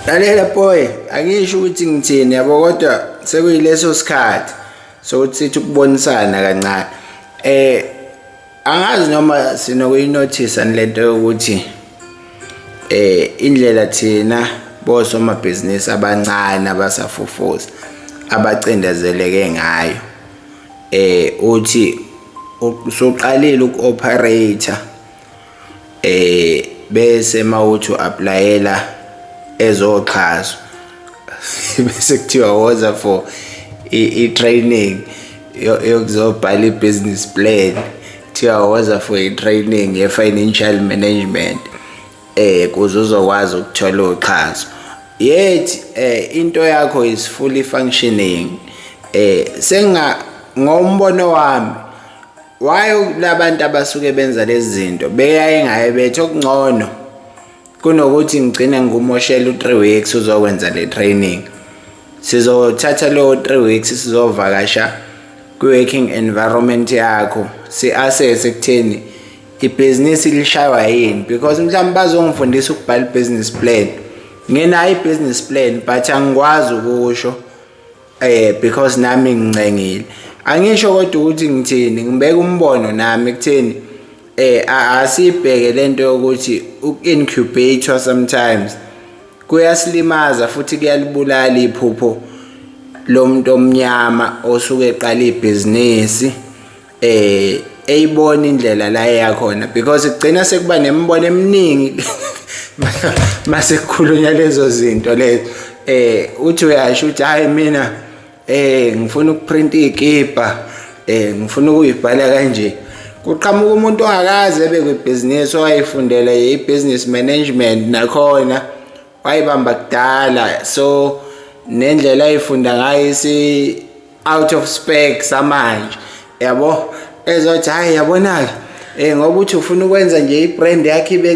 lalela boy angisho ukuthi ngithini yabo kodwa sekuyileso sikhathi sokuthi sithi ukubonisana kancane eh angazi noma sinokuyinothisa lento yokuthi eh indlela thina bosomabhizinisi abancane abasafufuza abacindezeleke ngayo eh uthi usuqalile uku-operator eh bese mawuthi uapplyela ezoxhaso bese kuthiwa woza for i training yokuzobhala i business plan kuthiwa woza for i training ye financial management eh kuze uzokwazi ukuthola uxhaso yet eh into yakho is fully functioning eh senga ngombono wami why labantu abasuke benza lezi zinto beyaye ngaye bethu okungcono kunokuthi ngigcine ngikumoshela u-3 weeks uzokwenza le training sizothatha lowo 3 weeks sizovakasha kwi-working environment yakho si-assess ekutheni ibhizinisi lishaywa yini because mhlawumbe bazongifundisa ukubhala i-business plan nginayo i-business plan but angikwazi ukusho eh because nami ngincengile angisho kodwa ukuthi ngithini ngibeka umbono nami kutheni eh asibheke lento yokuthi uincubator sometimes kuyasilimaza futhi kuyalibulala iphupho lomuntu omnyama osuke eqala ibhizinisi eh eyibona indlela la eyakhona because kugcina sekuba nemibono eminingi mase kukhulunywa lezo zinto lezo eh uthi uyasho ukuthi hayi mina eh ngifuna ukuprinta ikipa eh ngifuna ukuyibhala kanje kuqhamuka umuntu ongakaze ebe kwibhizinisi owayefundela i-business management nakhona wayibamba kudala so nendlela ayifunda ngayo isi out of spec samanje yabo ezothi hayi yabona-ke um ngoba uthi ufuna ukwenza nje i-brand yakhe ibe